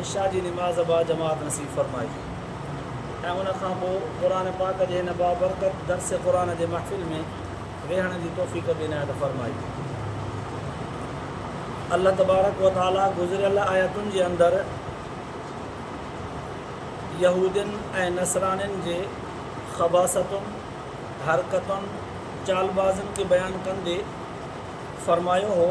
عشاء جي نماز با جماعت نصيب فرمائجي ۽ ان کان پوء قرآن پاڪ جي هن بابرڪت درس قرآن جي محفل ۾ ويهڻ جي توفيق به عنايت فرمائي. الله تبارڪ و تعاليٰ گذريل آيتن جي اندر يهودين ۽ نصرانين جي خباثتن، حرڪتن، چالبازين کي بيان ڪندي فرمايو هو،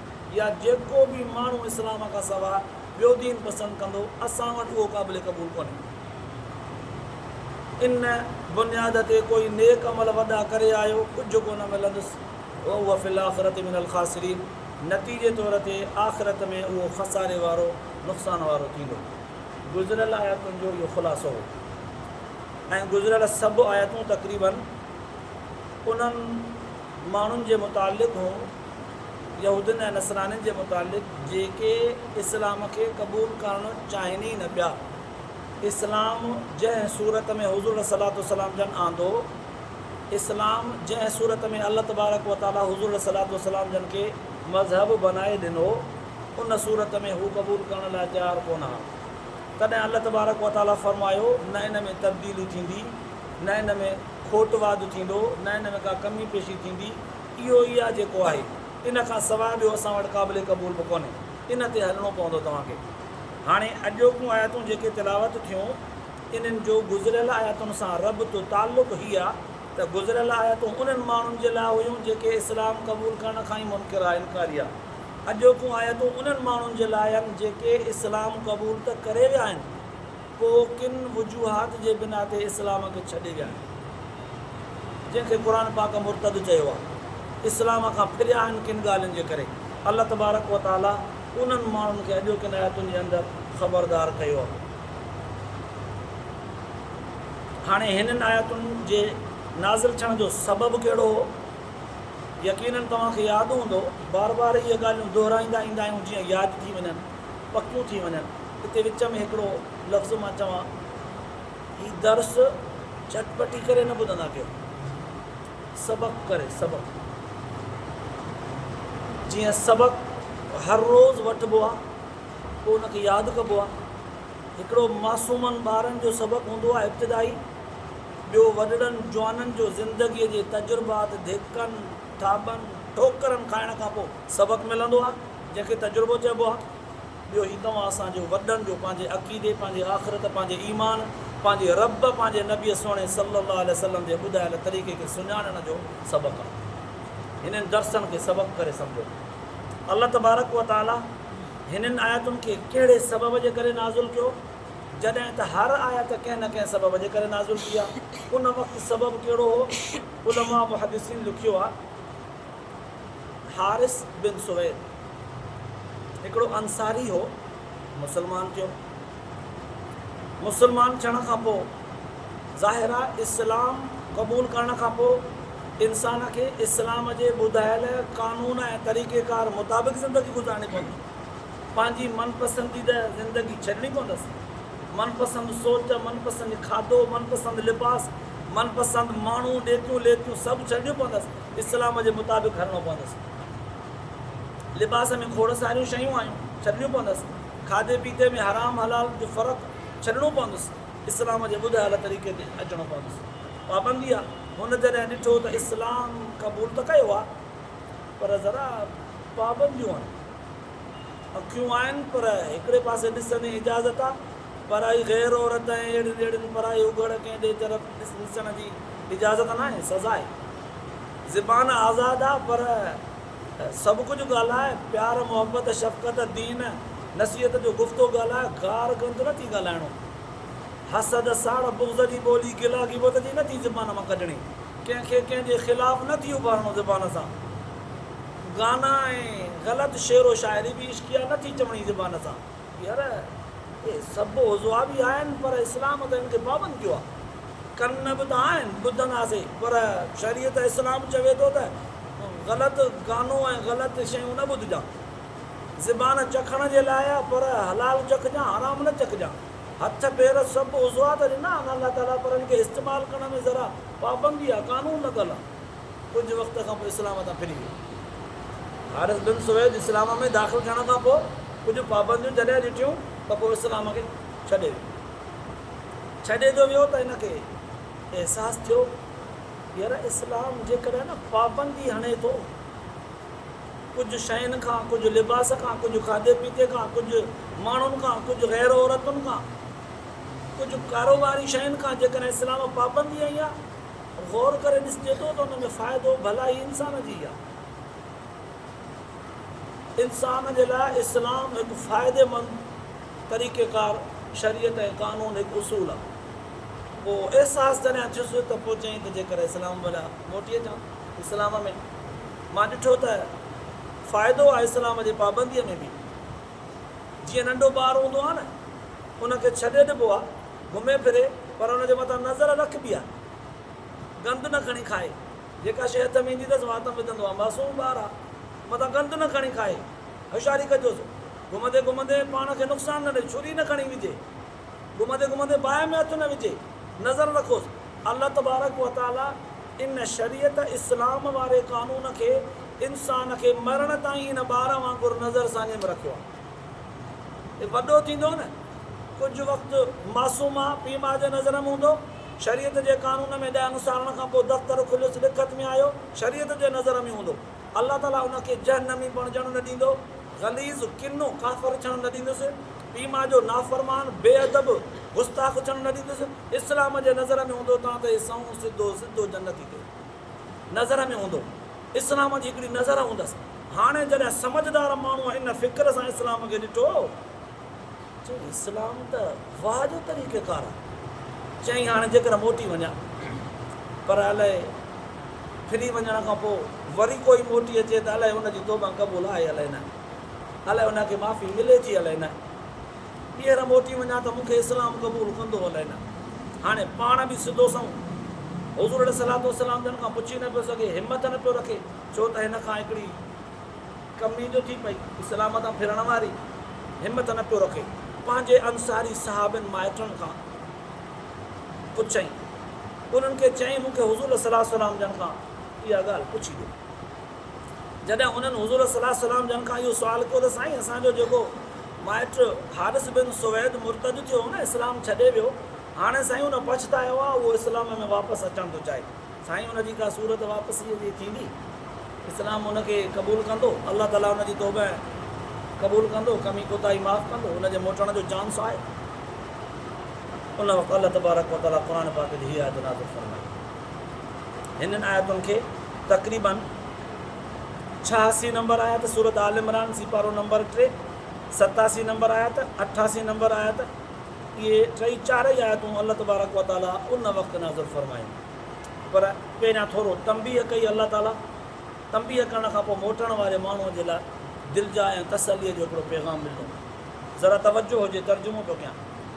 يا جيڪو به ماڻهو اسلام کان سواء ٻيو دين پسند ڪندو، اسان وٽ اهو قابل قبول ڪونهي. ان بنياد تي ڪوئي نيڪ عمل وڏا ڪري آيو، ڪجهه ڪونه ملندس، وهو في الاخرة من الخاسرين، نتيجي طور تي آخرت ۾ اهو خساري وارو، نقصان وارو، ٿيندو. گذريل آيتن جو اهو خلاصو هو ۽ گذريل سڀ آيتون تقريباً انهن. ماڻهن جي متعلق هو، يهودين ۽ نصرانين جي متعلق، جيڪي اسلام کي قبول ڪرڻ چاهين ئي نه پيا. اسلام جنهن صورت ۾ حضور عليه الصلواة والسلام جن آندو، اسلام جنهن صورت ۾ الله تبارڪ و تعاليٰ حضور عليه الصلواة والسلام جن کي مذهب بنائي ڏنو، ان صورت ۾ هو قبول ڪرڻ لاء تيار ڪونه ها. تڏهن الله تبارڪ و تعاليٰ فرمايو، نه ان ۾ تبديلي ٿيندي، نه ان ۾. کوٽ واڌ ٿيندو، نئين نئين ڪا ڪمي پيشي ٿيندي، اهو ئي آ جيڪو آهي، ان کان سواء ٻيو اسان وٽ قابل قبول به ڪونهي، ان تي هلڻو پوندو توهان کي. هاڻي اڄوڪيون آيتون جيڪي تلاوت ٿيون، انهن جو گذريل آيتن سان ربط، تعلق، هي آ ته گذريل آيتون انهن ماڻهن جي لاء هيون جيڪي اسلام قبول ڪرڻ کان ئي منڪر آ، انڪاري آ. اڄوڪيون آيتون انهن ماڻهن جي لاء آهن جيڪي اسلام قبول ته ڪري ويا آهن، پوء ڪن وجوهات جي بنا تي اسلام کي ڇڏي ويا آهن جنهن کي قرآن پاڪ مرتد چيو آهي. اسلام کان ڦريا آهن ڪن ڳالهين جي ڪري الله تبارڪ و تعالي انهن ماڻهن کي اڄوڪين آيتن جي اندر خبردار ڪيو آهي. هاڻي هنن آيتن جي نازل ٿيڻ جو سبب ڪهڙو هو؟ يقينن توهان کي ياد هوندو بار بار اهي ڳالهيون دهرائيندا ايندا آهيون جيئن ياد ٿي وڃن. پڪيون ٿي وڃن. اتي وچ ۾ هڪڙو لفظ مان چوان، هي درس جهٽ پٽي ڪري نه ٻڌندا ڪيو. سبق ڪري سبق. جيئن سبق هر روز وٺبو آ، پوء ان کي ياد ڪبو آ. هڪڙو معصومن ٻارن جو سبق هوندو آ ابتدائي، ٻيو وڏڙن جوانن جو زندگيء جي تجربات، ڌڪن، ٿاٻن، ٺوڪرن کائڻ کان پوء سبق ملندو آ. جنهن کي تجربو چئبو آهي. ٻيو هي توهان اسان جي وڏن جو پنهنجي عقيدي، پنهنجي آخرت، پنهنجي ايمان، پنهنجي رب، پنهنجي نبي سهڻي صلّي اللّٰه عليه وسلّم جي ٻڌايل طريقي کي سڃاڻڻ جو سبق آهي. هنن درسن کي سبق ڪري سمجهو. الله تبارڪ و تعالٰي هنن آيتن کي ڪهڙي سبب جي ڪري نازل ڪيو؟ جڏهن ته هر آيت ڪنهن نه ڪنهن سبب جي ڪري نازل ٿي آهي. ان وقت سبب ڪهڙو هو؟ علماء محدّثين لکيو آهي. حارث بن سويد هڪڙو انصاري هو، مسلمان ٿيو. مسلمان ٿيڻ کان پوء ظاهر آهي اسلام قبول ڪرڻ کان پوء انسان کي اسلام جي ٻڌايل قانون ۽ طريقه ڪار مطابق زندگي گذارڻي پوندي. پنهنجي من پسنديده زندگي ڇڏڻي پوندس. من پسند سوچ، من پسند کاڌو، من پسند لباس، من پسند ماڻهو، ڏيتيون ليتيون سڀ ڇڏڻيون پوندس. اسلام جي مطابق هلڻو پوندس. لباس ۾ کوڙ ساريون شيون آهيون، ڇڏڻيون پوندس. کاڌي پيتي ۾ حرام حلال جو فرق ڇڏڻو پوندس. اسلام جي ٻڌايل طريقي تي اچڻو پوندس. پابندي آ. هن جڏهن ڏٺو ته اسلام قبول ته ڪيو آ پر ذرا پابنديون آهن. اکيون آهن پر هڪڙي پاسي ڏسندي اجازت آ. پرائي غير عورت ۽ اهڙين اهڙين پرائي اگهڙ ڪنهن ڏي طرف ڏس ڏسڻ جي اجازت ناهي، سزا آهي. زبان آزاد آ پر سڀ ڪجهه ڳالهاء، پيار محبت شفقت دين نصيحت جو گفتو ڳالهاء، گار گند نه ٿي ڳالهائڻو. حسد ساڙ بغض جي ٻولي گلا غيبت جي نه ٿي زبان مان ڪڍڻي. ڪنهن کي ڪنهن جي خلاف نه ٿي اڀارڻو زبان سان. گانا ۽ غلط شعر و شاعري به عشقيه نه ٿي چوڻي زبان سان. يار اهي سڀ عضوا به آهن پر اسلام ته هن کي پابند ڪيو آهي. ڪن به ته آهن ٻڌنداسين پر شريعت اسلام چوي ٿو ته غلط گانو ۽ غلط شيون نه ٻڌجان. زبان چکڻ جي لاء آهي پر حلال چکجان حرام نه چکجان. هٿ پير سڀ عضوا ته ڏنا آهن الله تعاليٰ پر هن کي استعمال ڪرڻ ۾ ذرا پابندي آهي قانون لڳل آهي. ڪجهه وقت کان پوء اسلام تان ڦري ويو. حارث بن سويد اسلام ۾ داخل ٿيڻ کان پوء ڪجهه پابنديون جڏهن ڏٺيون ته پوء اسلام کي ڇڏي ويو. ڇڏي جو ويو ته هن کي احساس ٿيو يار اسلام جيڪڏهن نه پابندي هڻي ٿو ڪجهه شين کان، ڪجهه لباس کان، ڪجهه کاڌي پيتي کان، ڪجهه ماڻهن کان، ڪجهه غير عورتن کان، ڪجهه ڪاروباري شين کان جيڪڏهن اسلام پابندي هنئي ها غور ڪري ڏسجي ٿو ته ان ۾ فائدو ڀلائي انسان جي ئي آهي. انسان جي لاء اسلام هڪ فائديمند طريقيڪار، شريعت ۽ قانون هڪ اصول آهي. اهو احساس جڏهن ٿيس ته پوء چيائين ته جيڪر اسلام ڀلا موٽي اچان اسلام ۾. مان ڏٺو ته فائدو آهي اسلام جي پابنديء ۾ به. جيئن ننڍو ٻار هوندو آهي نه ان کي ڇڏي ڏبو آهي. گهمي ڦري پر ان جي مٿان نظر رک به ها گند نه کڻي کائي جيڪا شيء هٿ ۾ ايندي اٿس وات ۾ وڌندو ها معصوم ٻار ها مٿان گند نه کڻي کائي هوشياري ڪجوس گهمندي گهمندي پاڻ کي نقصان نه ڏئي ڇري نه کڻي وجهي گهمندي گهمندي باهه ۾ هٿ نه وجهي نظر رکوس الله تبارڪ وتعالي ان شريعت اسلام واري قانون کي انسان کي مرڻ تائين ان ٻار وانگر نظر ساڃي ۾ رکيو آهي. هي وڏو ٿيندو نه ڪجهه وقت معصوم آ پيء ماء جي نظر م هوندو شريعت جي قانون ۾ ڏهن سالن کان پوء دفتر کليس لکت م آيو شريعت جي نظر م هوندو الله تعالي ان کي جهنمي بڻجڻ نه ڏيندو غليظ ڪنو ڪافر ٿيڻ نه ڏيندس پيء ماء جو نافرمان بي ادب گستاخ ٿيڻ نه ڏيندس اسلام جي نظر م هوندو تان ته هي سنئون سڌو سڌو جنتي ٿيو. نظر ۾ هوندو. اسلام جي هڪڙي نظر هوندس. هاڻي جڏهن سمجهدار ماڻهوء ان فڪر سان اسلام کي ڏٺو، چيو اسلام ته واهه جو طريقيڪار آهي. چيائين هاڻي جيڪر موٽي وڃان، پر الائي ڦري وڃڻ کان پوء وري ڪوئي موٽي اچي ته الائي ان جي توبه قبول آهي الائي نه، الائي ان کي معافي ملي ٿي الائي نه. ٻيهر موٽي وڃان ته مون کي اسلام قبول ڪندو الائي نه. هاڻي پاڻ به سڌو سنئون حضور عليه الصلوة والسلام جن کان پڇي نه پيو سگهي، همت نه پيو رکي، ڇو ته هن کان هڪڙي ڪمي جو ٿي پئي، اسلام تان ڦرڻ واري همت نه پيو رکي، پنهنجي انصاري صحابين مائٽن کان پڇيائين، انهن کي چيائين مون کي حضور عليه الصلوة والسلام جن کان اها ڳالهه پڇي ڏيو. جڏهن هنن حضور صلّي الله عليه وسلّم جن کان اهو سوال ڪيو ته سائين اسان جو جيڪو مائٽ حارث بن سويد مرتد ٿيو هو نه اسلام ڇڏي ويو هاڻي سائين ان پڇتايو آهي اهو اسلام ۾ واپس اچڻ ٿو چاهي سائين ان جي ڪا صورت واپسيء جي ٿيندي اسلام ان کي قبول ڪندو الله تعاليٰ ان جي توبه قبول ڪندو ڪمي ڪوتاهي معاف ڪندو ان جي موٽڻ جو چانس آهي ان وقت الله تبارڪ وتعاليٰ قرآن پاڪ جي هيء آيت نازل فرمائي. هنن آيتن کي تقريباً ڇهاسي نمبر آيت سورت آل عمران سيپارو نمبر ٽي، ستاسي نمبر آيت، اٺاسي نمبر آيت، اهي ٽئي چارئي آيتون الله تبارڪ وتعاليٰ ان وقت نازل فرمايون. پر پهريان ٿورو تنبيه ڪئي الله تعاليٰ تنبيه ڪرڻ کان پوء موٽڻ واري ماڻهوء جي لاء دلجاء ۽ تسليء جو هڪڙو پيغام ڏنو. ذرا توجه هجي ترجمو ٿو ڪيان.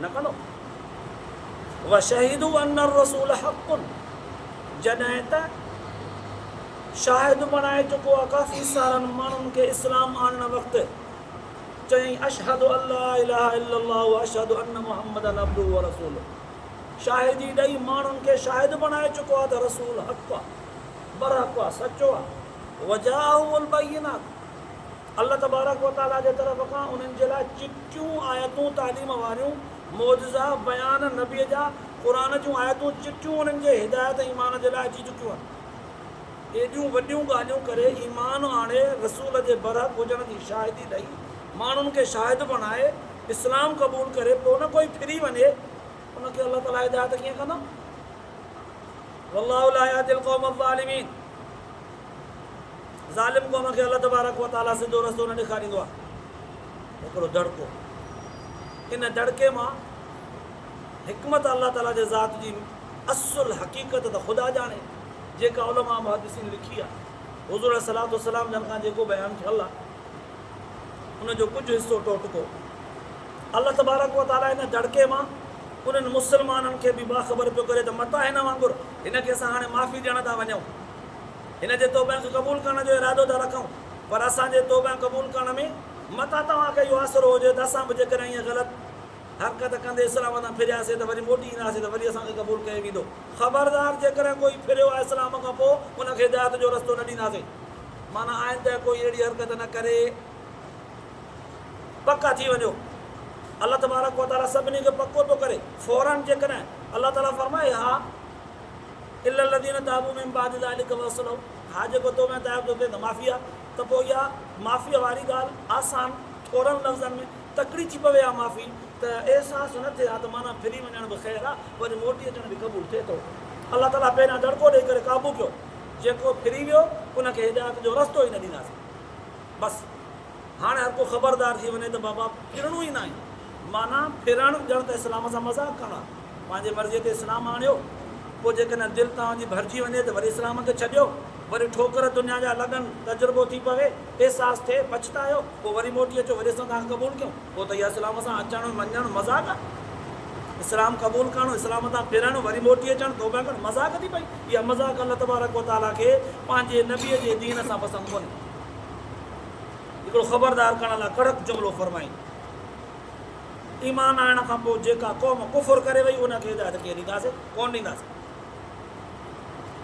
نه ڪندو. وشهدوا ان الرسول حق جڏهن ته شاهد بڻائي چڪو آهي ڪافي سارن ماڻهن کي اسلام آڻڻ وقت چيائين اشهد ان لا اله الا الله واشهد ان محمدا عبده ورسوله شاهدي ڏئي ماڻهن کي شاهد بڻائي چڪو آهي ته رسول حق آهي برحق آهي سچو آهي وجاءه البينات الله تبارڪ و تعاليٰ جي طرف کان انهن جي لاء چٽيون آيتون تعليم واريون، معجزا، بيان، نبيء جا، قرآن جون آيتون چٽيون انهن جي هدايت ۽ ايمان جي لاء اچي چڪيون آهن. ايڏيون وڏيون ڳالهيون ڪري ايمان آڻي رسول جي برحق هجڻ جي شاهدي ڏئي، ماڻهن کي شاهد بڻائي، اسلام قبول ڪري پوء نه ڪوئي ڦري وڃي ان کي الله تعاليٰ هدايت ڪيئن ڪندو؟ والله لا يهدي القوم الظالمين. ظالم قوم کي الله تبارڪ و تعالي سڌو رستو نه ڏيکاريندو آهي هڪڙو دڙڪو ان دڙڪي مان حڪمت الله تعالي جي ذات جي اصل حقيقت ته خدا ڄاڻي جيڪا علماء محدثين لکي آهي حضور صلي الله وسلم جن کان جيڪو بيان ٿيل آهي ان جو ڪجهه حصو ٽوٽڪو الله تبارڪ و تعالي ان دڙڪي مان انهن مسلمانن کي به باخبر پيو ڪري ته متان هن وانگر هن کي اسان هاڻي معافي ڏيڻ ٿا وڃون. هن جي توبه کي قبول ڪرڻ جو ارادو ٿا رکون. پر اسان جي توبه قبول ڪرڻ ۾ متان توهان کي اهو آسرو هجي ته اسان به جيڪڏهن ائين غلط حرڪت ڪندي اسلام تان ڦرياسين ته وري موٽي اينداسين ته وري اسان کي قبول ڪيو ويندو. خبردار جيڪڏهن ڪوئي ڦريو آهي اسلام کان پوء ان کي هدايت جو رستو نه ڏينداسين. معنيٰ آئنده ڪوئي اهڙي حرڪت نه ڪري. پڪا ٿي وڃو. الله تبارڪ و تعالي سڀني کي پڪو ٿو ڪري. فوراً جيڪڏهن الله تعالي فرمائي ها الا الذين تابوا من بعد ذلك واصلحوا ها جيڪو توبه ۽ تائب ٿو ٿئي ته معافي آهي ته پوء اها معافيء واري ڳالهه آسان ٿورن لفظن ۾ تڪڙي ٿي پوي ها معافي ته احساس نه ٿئي ها ته معنيٰ ڦري وڃڻ به خير آهي وري موٽي اچڻ به قبول ٿئي ٿو. الله تعالي پهريان دڙڪو ڏيئي ڪري قابو ڪيو. جيڪو ڦري ويو ان کي هدايت جو رستو ئي نه ڏينداسين. بس هاڻي هر ڪو خبردار ٿي وڃي ته بابا ڦرڻو ئي ناهي. معنيٰ ڦرڻ ڄڻ ته اسلام سان مذاق ڪرڻ آهي. پنهنجي مرضيء تي اسلام آڻيو، پوء جيڪڏهن دل توهان جي ڀرجي وڃي ته وري اسلام کي ڇڏيو، وري ٺوڪر دنيا جا لڳن، تجربو ٿي پوي، احساس ٿئي، پڇتايو، پوء وري موٽي اچو، وري اسان توهان کي قبول ڪيون. پوء ته اها اسلام سان اچڻ وڃڻ مذاق آهي. اسلام قبول ڪرڻ، اسلام تان ڦرڻ، وري موٽي اچڻ، توبه ڪرڻ، مذاق ٿي پئي. اها مذاق الله تبارڪ و تعاليٰ کي پنهنجي نبيء جي دين سان پسند ڪونهي. هڪڙو خبردار ڪرڻ لاء ڪڙڪ جملو فرمائين. ايمان آڻڻ کان پوء جيڪا قوم ڪفر ڪري وئي ان کي هدايت ڪيئن ڏينداسين؟ ڪونه ڏينداسين.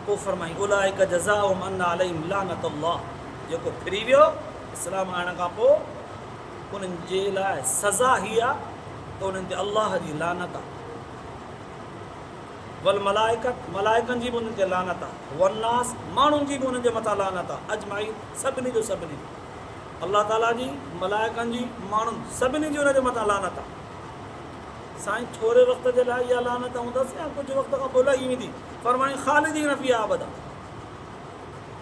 پوء فرمائين اولئک جزاؤهم ان عليهم لعنت الله جيڪو ڦري ويو اسلام آڻڻ کان پوء انهن جي لاء سزا هي آهي ته انهن تي الله جي لعنت آهي. والملائکة، ملائڪن جي به انهن تي لعنت آهي، والناس، ماڻهن جي به انهن جي مٿان لعنت آهي، اجمعين، سڀني جو سڀني، الله تعاليٰ جي، ملائڪن جي، ماڻهن، سڀني جي انهن جي مٿان لعنت آهي. سائين ٿوري وقت جي لاء اها لعنت هوندس يا ڪجهه وقت کان پوء لهي ويندي؟ فرمايائين، خالدين فيها ابدا،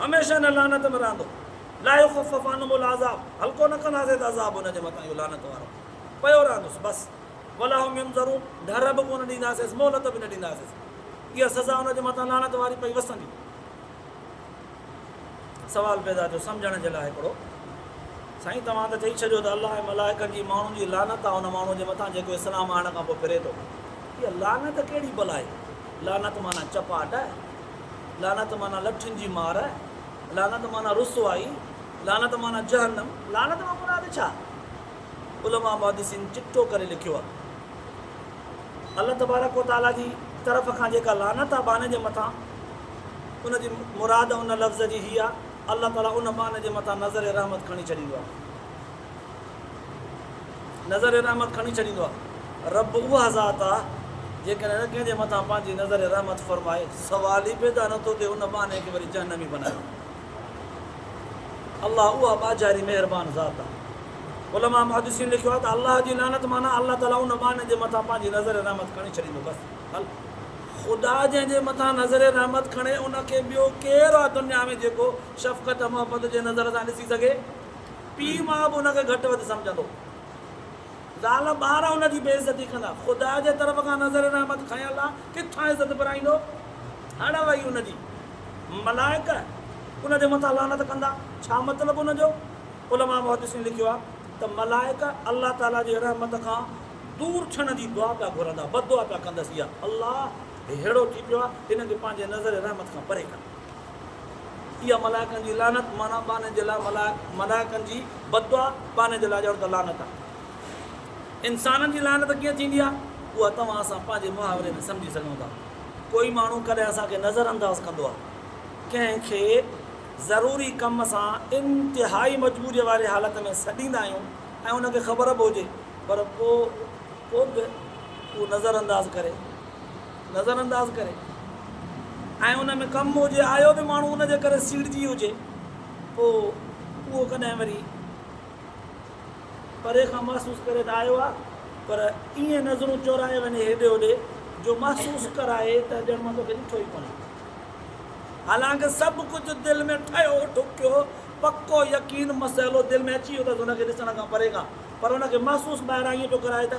هميشه ان لعنت ۾ رهندو، لا يخفف عنهم العذاب، هلڪو نه ڪنداسين ته عذاب انهن جي مٿان اهو لعنت وارو پيو رهندس، بس. ولا هم ينظرون، ڍر به ڪونه ڏينداسينس، مهلت به نه ڏينداسينس. اها سزا ان جي مٿان لعنت واري پئي وسندي. سوال پيدا ٿيو سمجهڻ جي لاء هڪڙو، سائين توهان ته چئي ڇڏيو ته الله ۽ ملائڪن جي ماڻهن جي لعنت آهي ان ماڻهوء جي مٿان جيڪو اسلام آڻڻ کان پوء ڦري ٿو. اها لعنت ڪهڙي بلائي؟ لعنت معنيٰ چپاٽ، لعنت معنيٰ لٺين جي مار، لعنت معنيٰ رسوائي، لعنت معنيٰ جهنم، لعنت مان مراد ڇا؟ علماء محدثين چٽو ڪري لکيو آ. الله تبارڪ و تعاليٰ جي طرف کان جيڪا لعنت آ باني جي مٿان ان جي مراد ان لفظ جي هي آ الله تعاليٰ ان باني جي مٿان نظر رحمت کڻي ڇڏيندو آ. نظر رحمت کڻي ڇڏيندو آ. رب اها ذات آ جيڪڏهن هن ڪنهن جي مٿان پنهنجي نظر رحمت فرمائي سوال ئي پيدا نه ٿو ٿئي ان باني کي وري جهنمي بنايو. الله اها ٻاجهاري مهربان ذات آ. علماء محدثين لکيو آ ته الله جي لعنت معنيٰ الله تعاليٰ ان ٻانهي جي مٿان پنهنجي نظر رحمت کڻي ڇڏيندو بس حل. خدا جنهن جي مٿان نظر رحمت کڻي ان کي ٻيو ڪير آ دنيا ۾ جيڪو شفقت ۽ محبت جي نظر سان ڏسي سگهي. پيء ماء به ان کي گهٽ وڌ سمجهندو. زال ٻار ان جي بي عزتي ڪندا. خدا جي طرف کان نظر رحمت کانئن الله ڪٿان عزت پرائيندو. هڙ وئي ان جي. ملائڪ ان جي مٿان لعنت ڪندا. ڇا مطلب ان جو؟ علماء محدثين لکيو آهي ته ملائڪ الله تعاليٰ جي رحمت کان دور ڇڻ جي دعا پيا گهرندا، بددعا پيا ڪندس، يا الله هي ههڙو ٿي پيو آهي، هن کي پنهنجي نظر رحمت کان پري ڪر. اها ملائڪن جي لعنت، معنيٰ ٻانهن جي لاء ملائڪ، ملائڪن جي بددعا، ٻانهن جي لاء ڄڻ ته لعنت آهي. انسانن جي لعنت ڪيئن ٿيندي آهي، اها توهان اسان پنهنجي محاوري ۾ سمجهي سگهون ٿا. ڪوئي ماڻهو ڪڏهن اسان کي نظر انداز ڪندو آهي. ڪنهن کي ضروري ڪم سان انتهائي مجبوريء واري حالت ۾ سڏيندا آهيون ۽ ان کي خبر به هجي پر پوء به اهو نظر انداز ڪري. نظر انداز ڪري ۽ ان ۾ ڪم هجي آيو به ماڻهو ان جي ڪري سيڙجي هجي پوء اهو ڪڏهن وري پري کان محسوس ڪري ته آيو آ پر ائين نظرون چورائي وڃي هيڏي هوڏي جو محسوس ڪرائي ته ڄڻ مان توکي ڏٺو ئي ڪونهي حالانڪه سڀ ڪجهه دل ۾ ٺهيو ٺڪيو پڪو يقين مسئلو دل ۾ اچي ويو اٿس ان کي ڏسڻ کان پري کان پر ان کي محسوس ٻاهران ائين پيو ڪرائي ته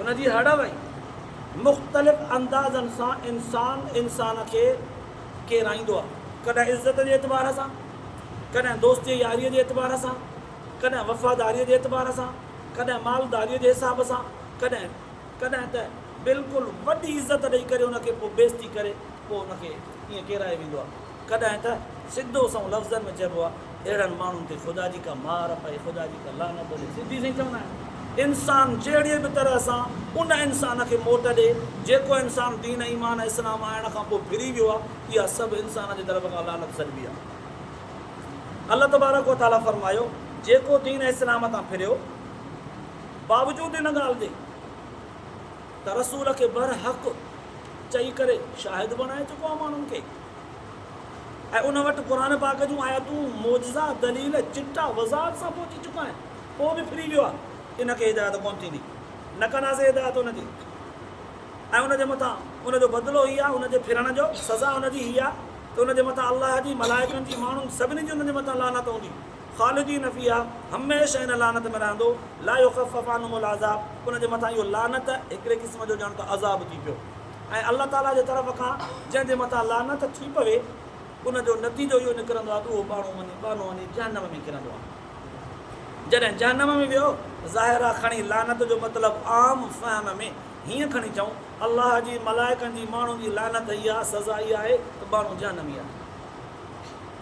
ان جي هڙ وئي. مختلف اندازن سان انسان انسان کي ڪيرائيندو آهي. ڪڏهن عزت جي اعتبار سان، ڪڏهن دوستيء ياريء جي اعتبار سان، ڪڏهن وفاداريء جي اعتبار سان، ڪڏهن مالداريء جي حساب سان، ڪڏهن ڪڏهن ته بلڪل وڏي عزت ڏئي ڪري ان کي پوء بيزتي ڪري پوء ان کي ائين ڪيرائي ويندو آهي. ڪڏهن ته سڌو سنئون لفظن ۾ چئبو آهي اهڙن ماڻهن تي خدا جي ڪا مار پئي، خدا جي ڪا لعنت هجي، سڌي سئي چوندا آهن. انسان جهڙيء به طرح سان ان انسان کي موٽ ڏي، جيڪو انسان دين ايمان ۽ اسلام آڻڻ کان پوء ڦري ويو آهي، اها سڀ انسان جي طرف کان لعنت سڏبي آهي. الله تبارڪ و تعاليٰ فرمايو، جيڪو دين اسلام تان ڦريو، باوجود ان ڳالهه جي. ته رسول کي برحق چئي ڪري شاهد بڻائي چڪو آهي ماڻهن کي ۽ ان وٽ قرآن پاڪ جون آيتون، معجزا، دليل، چٽا وضاحت سان پهچي چڪا آهن، پوء به ڦري ويو آهي، ان کي هدايت ڪونه ٿيندي، نه ڪنداسين هدايت ان جي ۽ ان جي مٿان ان جو بدلو هي آهي، ان جي ڦرڻ جو سزا ان جي هي آهي ته ان جي مٿان الله جي، ملائڪن جي، ماڻهن سڀني جي ان جي مٿان لعنت هوندي. خالدين فيها، هميشه ان لعنت ۾ رهندو، لا يخفف عنهم العذاب، ان جي مٿان اهو لعنت هڪڙي قسم جو ڄڻ ته عذاب ٿي پيو ۽ الله تعاليٰ جي طرف کان جنهن جي مٿان لعنت ٿي پوي ان جو نتيجو اهو نڪرندو آهي ته اهو ٻانهو وڃي ٻانهو وڃي جهنم ۾ ڪرندو آهي. جڏهن جهنم ۾ ويو، ظاهر آهي کڻي لعنت جو مطلب عام فهم ۾ هيئن کڻي چئون، الله جي، ملائڪن جي، ماڻهن جي لعنت هيء آهي، سزا اها آهي ته ٻانهو جهنمي آهي.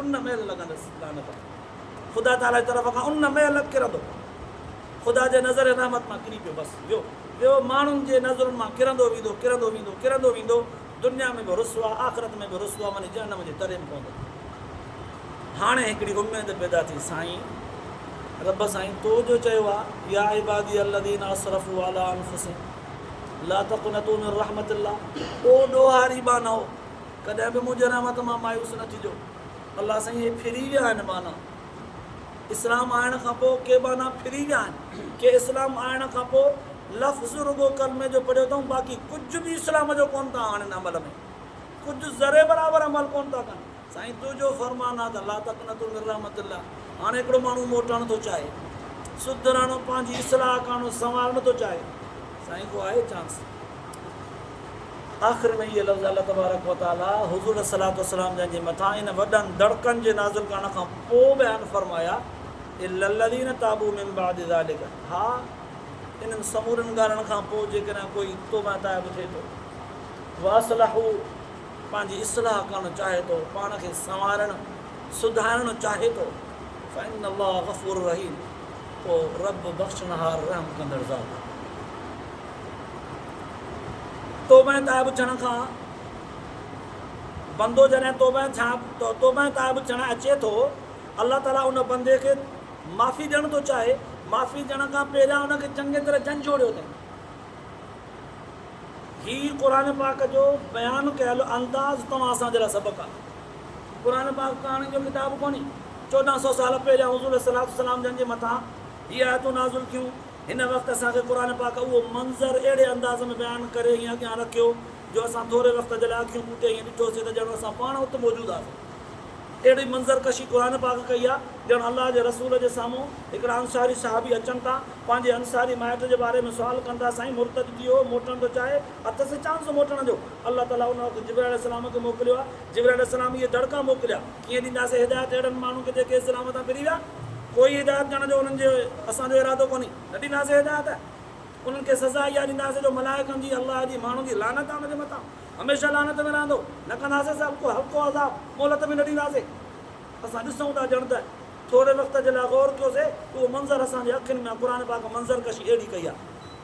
ان مهل لڳندس لعنت خدا تعاليٰ جي طرف کان ان مهل ڪرندو خدا جي نظر رحمت مان ڪري پيو بس ويو ويو ماڻهن جي نظرن مان ڪرندو ويندو ڪرندو ويندو ڪرندو ويندو دنيا ۾ به رسوا آخرت ۾ به رسوا وڃي جهنم جي تري ۾ پوندو هاڻي هڪڙي اميد پيدا ٿي سائين رب سائين تو جو چيو آ يا عبادي الذين اسرفوا على انفسهم لا تقنطوا من رحمت الله او ڏوهاري بانهو ڪڏهن به منهنجي رحمت مان مايوس نه ٿجو. الله سائين اهي ڦري ويا آهن ٻانها. اسلام آڻڻ کان پوء ڪي ٻانها ڦري ويا آهن. ڪي اسلام آڻڻ کان پوء لفظ رڳو ڪلمي جو پڙهيو اٿئون باقي ڪجهه به اسلام جو ڪونه ٿا آڻين عمل ۾ ڪجهه ذري برابر عمل ڪونه ٿا ڪن. سائين تنهنجو فرمان آهي ته لا تقنطو من رحمت الله هاڻي هڪڙو ماڻهو موٽڻ ٿو چاهي سڌرڻ پنهنجي اصلاح ڪرڻ سنوارڻ ٿو چاهي سائين ڪو آهي چانس. آخر ۾ اهي لفظ الله تبارڪ و تعاليٰ حضور عليه الصلوة والسلام جن جي مٿان انهن وڏن دڙڪن جي نازل ڪرڻ کان پوء بيان فرمايا، الا الذين تابوا من بعد ذلڪ، ها انهن سمورن ڳالهن کان پوء جيڪڏهن ڪوئي توبه ۽ تائب ٿئي ٿو، واصلحوا پنهنجي اصلاح ڪرڻ چاهي ٿو، پاڻ کي سنوارڻ، سڌارڻ، چاهي ٿو، فان الله غفور رحيم، پوء رب بخشڻهار رحم ڪندڙ ذات آهي. توبهه تائب ٿيڻ کان بندو جڏهن توبهه توبهه تائب ٿيڻ اچي ٿو الله تعالي ان بندي کي معافي ڏيڻ ٿو چاهي معافي ڏيڻ کان پهريان ان کي چڱي طرح جنجهوڙيو اٿئي هي قرآن پاڪ جو بيان ڪيل انداز توهان اسان جي لاء سبق آهي قرآن پاڪ ڪهاڻين جو ڪتاب ڪونهي چوڏهن سو سال پهريان حضور عليه السلام جن جي مٿان هي آيتون نازل ٿيون هن وقت اسان کي قرآن پاڪ اهو منظر اهڙي انداز ۾ بيان ڪري ائين اڳيان رکيو جو اسان ٿوري وقت جي لاء اکيون پوٽي ائين ڏٺوسين ته ڄڻ اسان پاڻ ات موجود هئاسين. اهڙي منظر ڪشي قرآن پاڪ ڪئي آهي ڄڻ الله جي رسول جي سامهون هڪڙا انصاري صحابي اچن ٿا پنهنجي انصاري مائٽ جي باري ۾ سوال ڪن ٿا سائين مرتد ٿي ويو هو موٽڻ ٿو چاهي اٿس چانس موٽڻ جو الله تعالي ان وقت جبرائيل عليه السلام کي موڪليو آهي جبرائيل عليه السلام اهي دڙڪا موڪليا ڪيئن ڏينداسين هدايت اهڙن ماڻهن کي جيڪي اسلام تان ڦري ويا؟ ڪوئي هدايت ڏيڻ جو انهن جي اسان جو ارادو ڪونهي. نه ڏينداسين هدايت. انهن کي سزا اها ڏينداسين جو ملائڪن جي، الله جي، ماڻهن جي لعنت آهي ان جي مٿان. هميشه لعنت ۾ رهندو. نه ڪنداسين سواء ڪو هلڪو عذاب. مهلت به نه ڏينداسين. اسان ڏسون ٿا ڄڻ ته. ٿوري وقت جي لاء غور ڪيو سي ته اهو منظر اسان جي اکين ۾ آهي. قرآن پاڪ منظر ڪشي اهڙي ڪئي آهي.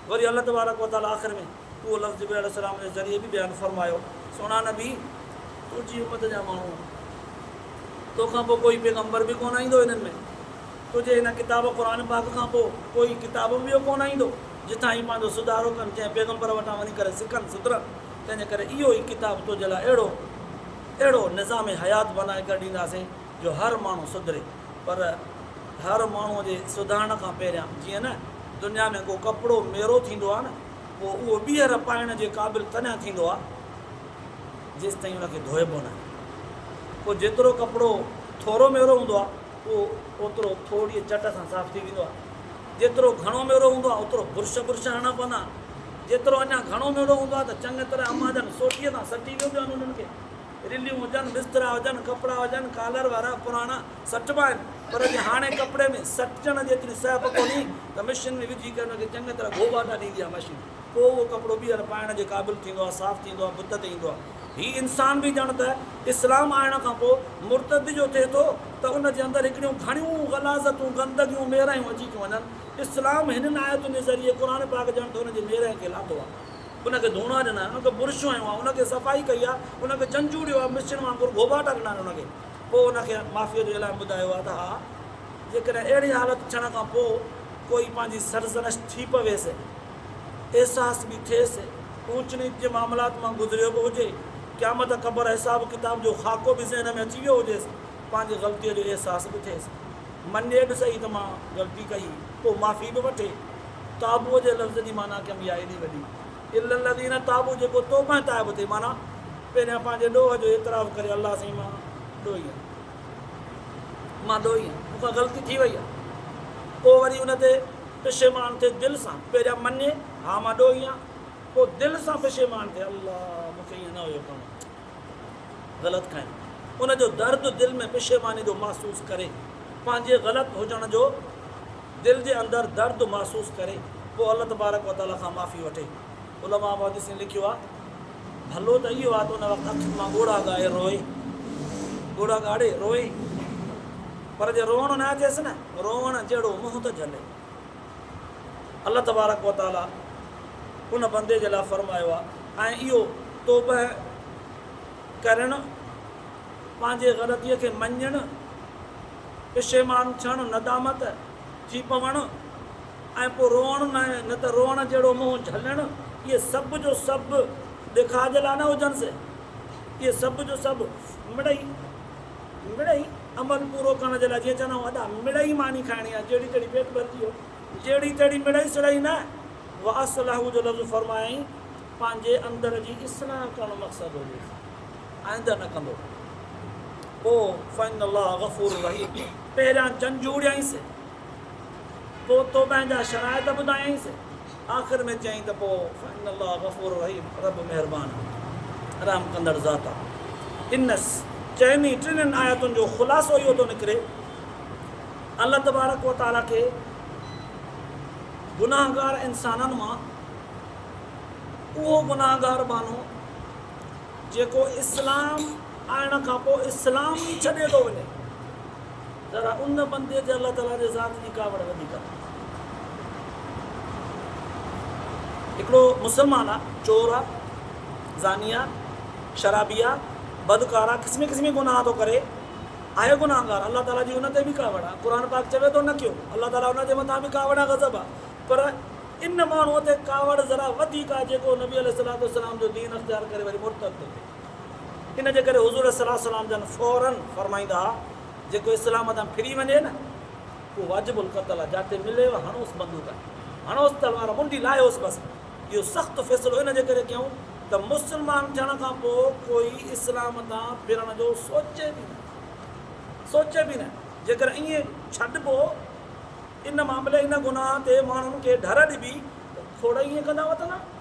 وري الله تبارڪ وتعاليٰ آخر ۾. اهو لفظ جبرئيل عليه السلام جي ذريعي به بيان فرمايو، سهڻا نبي! تنهنجي امت جا ماڻهو تو کان پوء ڪوئي پيغمبر به ڪونه ايندو هنن ۾، تنهنجي هن ڪتاب قرآن پاڪ کان پوء ڪوئي ڪتاب به ٻيو ڪونه ايندو، جتان هي پنهنجو سڌارو ڪن، ڪنهن پيغمبر وٽان وڃي ڪري سکن، سڌرن، تنهنجي ڪري اهو ئي ڪتاب تنهنجي لاء اهڙو اهڙو نظام حيات بنائي ڪري ڏينداسين جو هر ماڻهو سڌري، پر هر ماڻهوء جي سڌارڻ کان پهريان جيئن نه دنيا ۾ ڪو ڪپڙو ميرو ٿيندو آهي نه. پوء اهو ٻيهر پائڻ جي قابل تڏهن ٿيندو آهي جيستائين ان کي ڌوئبو ناهي. پوء جيترو ڪپڙو ٿورو ميرو هوندو آهي اهو اوترو ٿورڙيء چٽ سان صاف ٿي ويندو آهي. جيترو گهڻو ميرو هوندو آهي اوترو برش برش هڻڻا پوندا آهن. جيترو اڃا گهڻو ميڙو هوندو آهي ته چڱي طرح امان جان سوٽيء سان سٽي وينديون آهن انهن کي. رليون هجن، بسترا هجن، ڪپڙا هجن، ڪالر وارا، پراڻا. سٽبا آهن پر جي هاڻي ڪپڙي ۾ سٽجڻ جيتري سهپ ڪونهي ته مشين ۾ وجهي ڪري ان کي چڱي طرح گهو ٻاٽا ڏيندي آهي مشين پوء اهو ڪپڙو ٻيهر پائڻ جي قابل ٿيندو آهي صاف ٿيندو آهي بت تي ايندو آهي هي انسان به ڄڻ ته اسلام آڻڻ کان پوء مرتد جو ٿئي ٿو ته ان جي اندر هڪڙيون گهڻيون غلاظتون گندگيون ميرهيون اچي ٿيون وڃن اسلام هنن آيتن جي ذريعي قرآن پاڪ ڄڻ ته ان جي ميرهين کي لاٿو آهي ان کي ڌوڻا ڏنا آهن ان کي برش هنيو آهي ان کي صفائي ڪئي آهي ان کي جنجهوڙيو آهي مشين وانگر گهو ٻاٽا ڏنا آهن ان کي. پوء ان کي معافيء جو اعلان ٻڌايو آهي ته ها، جيڪڏهن اهڙي حالت ٿيڻ کان پوء ڪوئي پنهنجي سرزنش ٿي پويس، احساس به ٿئيس، اونچ نيچ جي معاملات مان گذريو به هجي، قيامت قبر حساب ڪتاب جو خاڪو به ذهن ۾ اچي ويو هجيس، پنهنجي غلطيء جو احساس به ٿئيس، مڃي به سهي ته مان غلطي ڪئي، پوء معافي به وٺي. تابوء جي لفظ جي معنيٰ ڪيم يا ايڏي وڏي. الا الذين تابو جيڪو توبهه تائب ٿئي معنيٰ پهريان پنهنجي ڏوهه جو اعتراف ڪري الله سائين مان ڏوهي آهيان مان ڏوهي آهيان مون کان غلطي ٿي وئي آهي پوء وري ان تي پشيمان ٿئي دل سان پهريان مڃي ها مان ڏوهي آهيان پوء دل سان پشيمان ٿئي الله مون کي ائين نه هيو ڪرڻو غلط کائڻ ان جو درد دل ۾ پشيماني جو محسوس ڪري پنهنجي غلط هجڻ جو دل جي اندر درد محسوس ڪري پوء الله تبارڪ و تعالي کان معافي وٺي علماء محدثين لکيو آهي ڀلو ته اهو آهي ته ان وقت اکين مان ڳوڙها ڳائي روئي ڳوڙها ڳاڙي روئي پر جي روئڻو نه اچيس نه روئڻ جهڙو منهن ته جهلي. الله تبارڪ و تعاليٰ ان بندي جي لاء فرمايو آهي ۽ اهو توبهه ڪرڻ، پنهنجي غلطيء کي مڃڻ، پشيمان ٿيڻ، ندامت ٿي پوڻ ۽ پوء روئڻ نه نه ته روئڻ جهڙو منهن جهلڻ، اهي سڀ جو سڀ ڏيکاء جي لاء نه هجنس، اهي سڀ جو سڀ مڙئي. مڙئي، عمل پورو ڪرڻ جي لاء جيئن چوندا آهيون ادا مڙئي ماني کائڻي آهي، جهڙي تهڙي پيٽ ڀرجي ويو، جهڙي تهڙي مڙئي سڙئي نه، واصله جو لفظ فرمائين پنهنجي اندر جي اصلاح ڪرڻ مقصد هجي ٿي، آئنده نه ڪندو پوء فان الله غفور رحيم پهريان جنجهوڙيائينس پوء توبهه جا شرائط ٻڌايائينس. آخر ۾ چيائين ته پوء فان الله غفور رحيم رب مهربان ۽ رحم ڪندڙ ذات آهي. هنس چئن ئي ٽنهن آيتن جو خلاصو اهو ٿو نڪري ته الله تبارڪ و تعاليٰ کي گناهگار انسانن مان اهو گناهگار ٻانهو جيڪو اسلام آڻڻ کان پوء اسلام ئي ڇڏي ٿو وڃي، ذرا ان بندي تي الله تعالي جي ذات جي ڪاوڙ وڌيڪ اٿئي. هڪڙو مسلمان آ چور آ زاني آ شرابي آ بدڪار آ قسمي قسمي گناهه ٿو ڪري آهي گناهگار الله تعالي جي ان تي به ڪاوڙ آ قرآن پاڪ چوي ٿو نه ڪيو الله تعالي ان جي مٿان به ڪاوڙ آ غضب آ پر ان ماڻهو تي ڪاوڙ ذرا وڌيڪ آ جيڪو نبي عليه الصلوة والسلام جو دين اختيار ڪري وري مرتد ٿو ٿئي. ان جي ڪري حضور صلي الله عليه وسلم جن فورا فرمائيندا ها، جيڪو اسلام تان ڦري وڃي نه، اهو واجب القتل آهي، جاتي مليو هڻوس بندوق، هڻوس تلوار، منڊي لاهيوس بس. اهو سخت فيصلو ان جي ڪري ڪيائون ته مسلمان ٿيڻ کان پوء ڪوئي اسلام تان ڦرڻ جو سوچي به نه، سوچي به نه. جيڪر ائين ڇڏبو، ان معاملي، ان گناهه تي ماڻهن کي ڍر ڏبي ته کوڙ ائين ڪندا وتندا.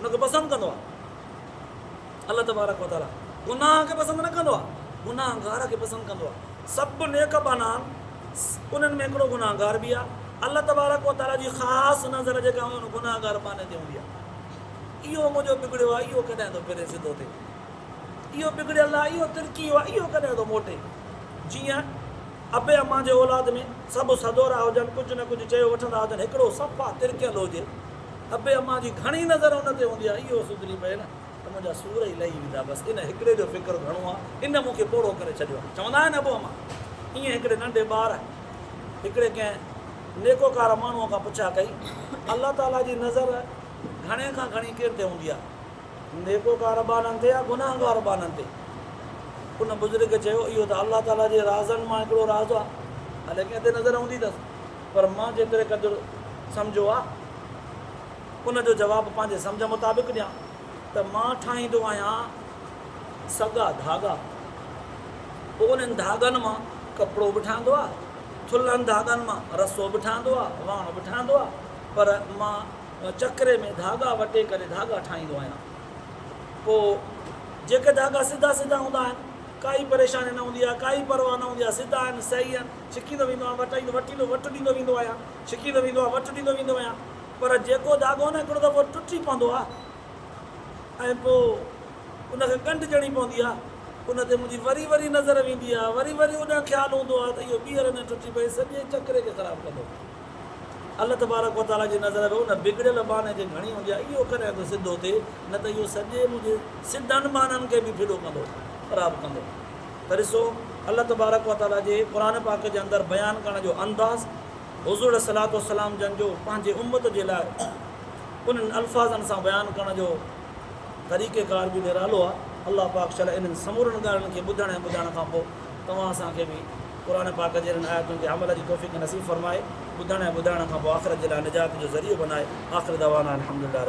ان کي پسند ڪندو آهي. الله تبارڪ و تعاليٰ گناهه کي پسند نه ڪندو آهي، گناهگار کي پسند ڪندو آهي. سڀ نيڪ بنا آهن، انهن ۾ هڪڙو گناهگار به آهي. الله تبارڪ و تعاليٰ جي خاص نظر جيڪا هوندي ان گناهگار پاني تي هوندي آهي. اهو منهنجو بگڙيو آهي، اهو ڪڏهن ٿو ڦري سڌو ٿئي. اهو بگڙيل آهي، اهو ترڪي ويو آهي، اهو ڪڏهن ٿو موٽي. جيئن ابي امان جي اولاد ۾ سڀ سڌورا هجن، ڪجهه نه ڪجهه چيو وٺندا هجن، هڪڙو صفا ترڪيل هجي، ابي امان جي گهڻي نظر ان تي هوندي آهي اهو سڌري پئي نه ته منهنجا سور ئي لهي ويندا بس ان هڪڙي جو فڪر گهڻو آهي ان مون کي پوڙهو ڪري ڇڏيو آهي چوندا آهن ابو امان ايئن هڪڙي ننڍي ٻار هڪڙي ڪنهن نيڪوڪار ماڻهو کان پڇا ڪئي الله تعالي جي نظر گهڻي کان گهڻي ڪين تي هوندي آهي نيڪوڪار ٻارن تي يا گناهگار ٻارن تي ان بزرگ چيو اهو ته الله تعالي جي رازن مان هڪڙو راز آهي هلي ڪنهن تي نظر هوندي اٿس پر مان جيتري قدر سمجهيو آ ان جو جواب پنهنجي سمجهه مطابق ڏيان ته مان ٺاهيندو آهيان سڳا ڌاڳا پوء انهن ڌاڳن مان ڪپڙو به ٺهندو آ ٿلهن ڌاڳن مان رسو به ٺهندو آ واڻ به ٺهندو آ پر مان چڪري ۾ ڌاڳا وٽي ڪري ڌاڳا ٺاهيندو آهيان پوء جيڪي ڌاڳا سڌا سڌا هوندا آهن ڪائي پريشاني نه هوندي آ ڪائي پرواهه نه هوندي آ سڌا آهن صحيح آهن ڇڪيندو ويندو آهيان، وٽ ايندو وٽ ايندو، وٽ ڏيندو ويندو آهيان، ڇڪيندو ويندو آهيان، وٽ ڏيندو ويندو آهيان، پر جيڪو ڌاڳو نه هڪڙو دفعو ٽٽي پوندو آهي ۽ پوء ان کي ڳنڍ ڄڻي پوندي آهي، ان تي منهنجي وري وري نظر ويندي آهي، وري وري اوڏانهن خيال هوندو آهي ته اهو ٻيهر نه ٽٽي پئي سڄي چڪري کي خراب ڪندو. الله تبارڪ و تعاليٰ جي نظر به ان بگڙيل ٻانهي تي گهڻي هوندي آهي، اهو ڪڏهن ٿو سڌو ٿئي، نه ته اهو سڄي منهنجي سڌن ٻانهن کي به ڦڏو ڪندو، خراب ڪندو. ته ڏسو الله تبارڪ و تعالي جي قرآن پاڪ جي اندر بيان ڪرڻ جو انداز حضور عليه الصلوة والسلام جن جو پنهنجي امت جي لاء انهن الفاظن سان بيان ڪرڻ جو طريقه ڪار به نرالو آهي الله پاڪ شل انهن سمورن ڳالهين کي ٻڌڻ ۽ ٻڌائڻ کان پوء توهان اسان کي به قرآن پاڪ جي انهن آيتن تي عمل جي توفيق نصيب فرمائي ٻڌڻ ۽ ٻڌائڻ کان پوء آخرت جي لاء نجات جو ذريعو بنائي آخر دعوانا الحمدلله رب